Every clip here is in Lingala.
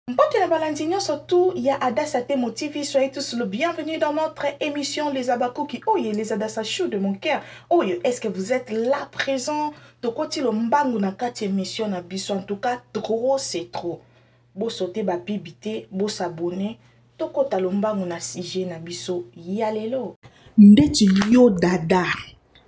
Mbote na balandi nyonso tout ya Adassa Temo TV, soyez tous le bienvenue dans notre émission Les Abakuki. Oye, les Adassa Chou de mon cœur. Oye, est-ce que vous êtes là présent? Tokoti lo mbangu na kati émission na biso. En tout cas, trop c'est trop. Bo sauter ba pibité, bo s'abonner. Tokota lo mbangu na sujet na biso. Yalelo. Ndeti yo dada.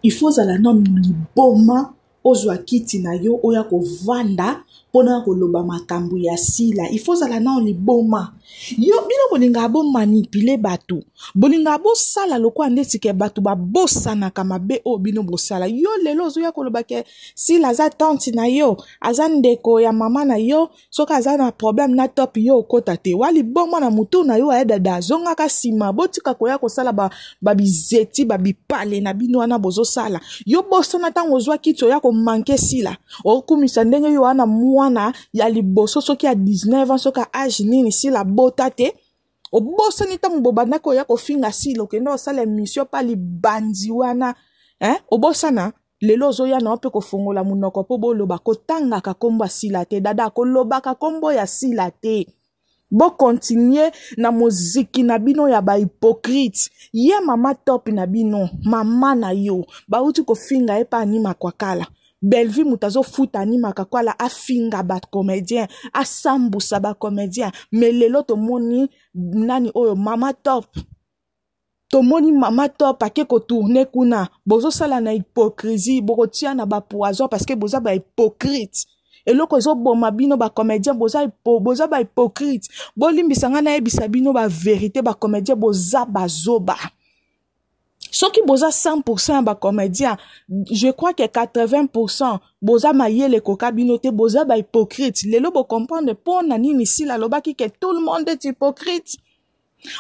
Il faut zala nanu liboma ozwa kiti na yo oya kovanda mpo na koloba makambo ya sila ifo ozala nao liboma yo bino bolingaka bomanipile bato bolingaka bosala lokola nde sike bato babosanaka mabe oyo bino bosala yo lelo ozoya koloba ke sila aza tante na yo aza ndeko ya mama na yo soki aza na problème na top yo okota te wa liboma na motu na yo aye dada azongaka nsima botika koya kosala babizeti ba babipale na bino wana bozosala yo bosana ntango ozwa kiti oya komanke sila okumisa ndenge yo wana mwana ya liboso soki ya 19 ans soki ya age nini sila bota te obosani ntango bobandaki oya kofinga sila okenda kosala emission mpa libanzi wana eh? obosana lelo ozoya na yo mpe kofongola monoko mpo boloba kotangaka nkombo ya sila te dada kolobaka nkombo ya sila te bokontinue na moziki na bino ya bahypokrite ye mama top na bino mama na yo bauti kofinga ye mpe anima kwakala bellevue moto azofuta animaka kwala afinga bacomédien asambusa bacomédien me lelo tomoni nani oyo mama top tomoni mama top ake kotourne kuna bozosala na hypocrisie bokotia na bapoison parce que boza bahypocrite eloko ezoboma bino bacomédien boza, boza bahypocrite bolimbisa ngai nayebisa bino baverité bacomédien boza bazoba soki boza 100 ya bacomédien je crois que 80 boza mayele ekoka bino te boza bahypocrite lelo bocomprendre mpo na nini sila alobaki ke tout le monde est hypocrite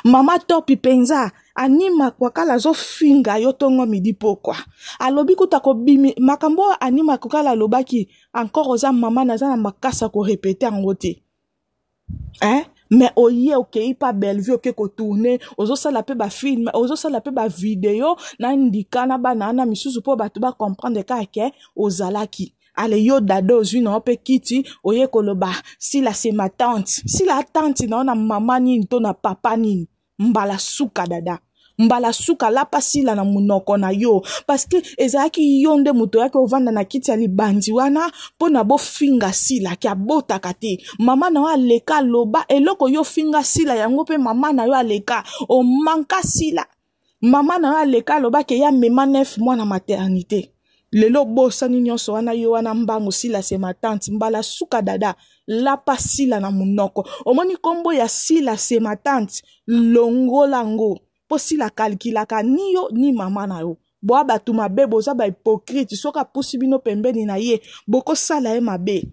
mama topi mpenza anima kwakala azofinga yo ntongo midi pokwa alobi kuta kobimi makambo oyo anima kwakala alobaki encore oza mama naza na makasi ya korepete yango te eh? mais oye okei mpa bellevue oke kotourne ozosala mpe bafilme ozosala mpe bavideo na ndika na bana wana misusu mpo bato bacomprendre kaka ke ozalaki ale yo dada ozwi na yo mpe kiti oye koloba sila se ma tante sila tante na yo na mama nini to na papa nini mbala suka dada mbala suka lapa sila na monoko na yo parceke ezalaki yo nde moto oyaki ovanda na kiti ya libandi wana mpo na bofinga sila ke abotaka te mama na yo aleka aloba eloko yo ofinga sila yango mpe mama na yo aleka omanka sila mama na yo aleka alobaki eya mema nef mwa na maternité lelo obosani nyonso wana yo wana mbangu sila se matante mbala suka dada lapa sila na monoko omoni nkombo ya sila se matante longola ngo mpo sila kalkilaka ni yo ni mama na yo bwa bato mabe boza bahypokrite soki apusi bino pembeni na ye bokosala ye mabe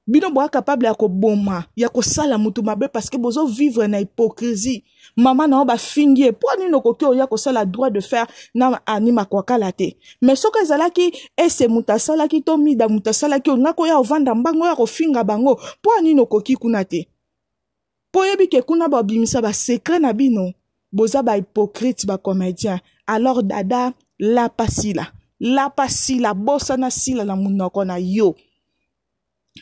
bino boa capable ya koboma ya kosala motu mabe parce que bozo vivre na hypocrisie mama na yo bafingi ye mpo nini okoki oya kosala droit de faire na ani makwakala te mais soki ezalaki ese moto asalaki to mida moto asalaki olinga koya ovanda mbango oya kofinga bango mpo nini okoki kuna te mpo oyebi ke kuna bobimisa basekre na bino boza bahypocrite bacomédien alors dada lapa sila lapa sila bosana sila na monoko na yo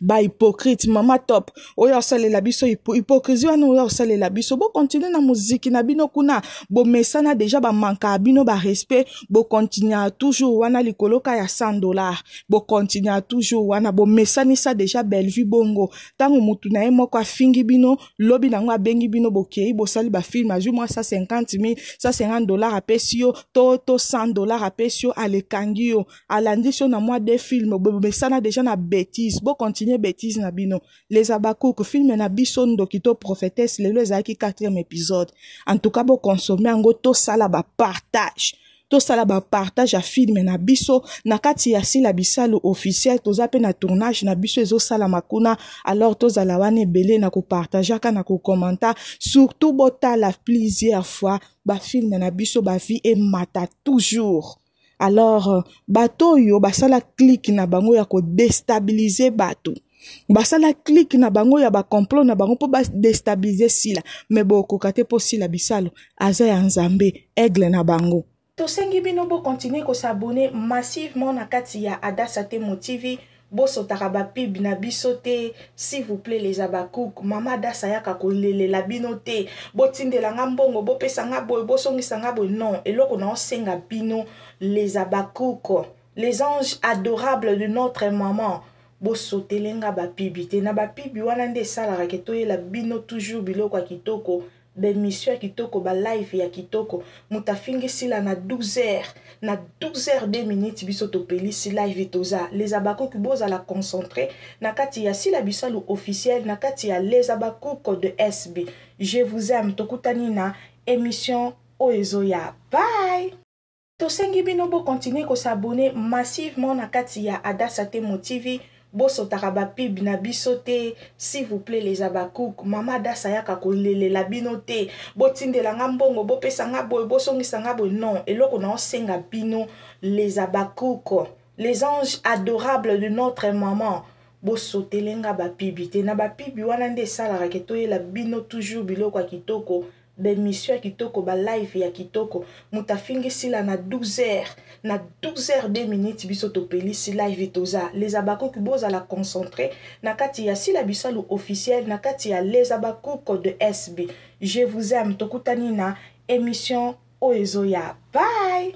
bahypocrite mama top oyo asalela biso hypocrisie wana oyo asalela biso bokontinue na moziki na bino kuna bomesana deja bamankaa bino barespect bokontinua toujours wana likoloka ya 100 dollar bokontinua toujours wana bomesanisa deja bellevue bongo ntango motu na ye moko afingi bino lobi na yango abengi bino bokei bosali bafilme azwi mwa 150 mil 150 dollar apesi yo to to 100 dollar apesi yo alekangi yo alandisi yo na mwa de filme bomesana deja na betise bokontinue betise na bino les abakuku filme na biso ndoki to prophetese lelo ezalaki 4e episode en tout cas bokonsome yango tosala bapartage tosala bapartage ya filme na biso na kati ya sila bisalu officiel toza mpe na tournage na biso ezosalama kuna alors tozala wana ebele na kopartageaka na kokomanta surtout botala plusieurs fois bafilme na biso bavie emata toujours alors bato oyo basala clike na bango ya kodestabilize bato basala clique na bango ya bacomplot na bango mpo badestabilize sila me bokoka te mpo sila bisalu aza ya nzambe aigle na bango tosengi bino bokontinue kosabone massivement na kati ya adasa temo tv bosotaka bapib na biso te s'il vous plaît les abacouk mama adasa yaka kolelela bino te botindela nga mbongo bopesa nga boye bosongisa nga boye non eloko na osenga bino les abacouk les anges adorables de notre maman bosotele nga bapibi te na bapibi wana nde esalaka ke toyela bino toujours biloko ya kitoko baemission ya kitoko balive ya kitoko moto afingi sila na 12 heures na 12 heures 2 minutes biso topelisi live toza les abakuki bozala concentre na kati ya sila bisalu officiel na kati ya les abakuki de sb je vous aime tokutani na émission oyo ezoya bye Tosengi bino bo continuer ko s'abonner massivement na kati ya Adassa Temo TV bosotaka ba pub na biso te s'il vous plaît les abakouk mama Adassa yaka kolelela bino te botindela nga mbongo bopesa nga boye bosongisa nga boye non eloko na osenga bino les abakouk les anges adorables de notre maman bosotele nga bapibi te na bapibi wana nde esalaka ke toyela bino toujours biloko ya kitoko ba emission ya kitoko ba live ya kitoko moto afingi sila na 12 heures na 12 heures 2 minutes biso topelisi live toza les abakuki bozala concentre na kati ya sila bisalu officiel na kati ya les abakuki de sb je vous aime tokutani na emission oyo ezoya bye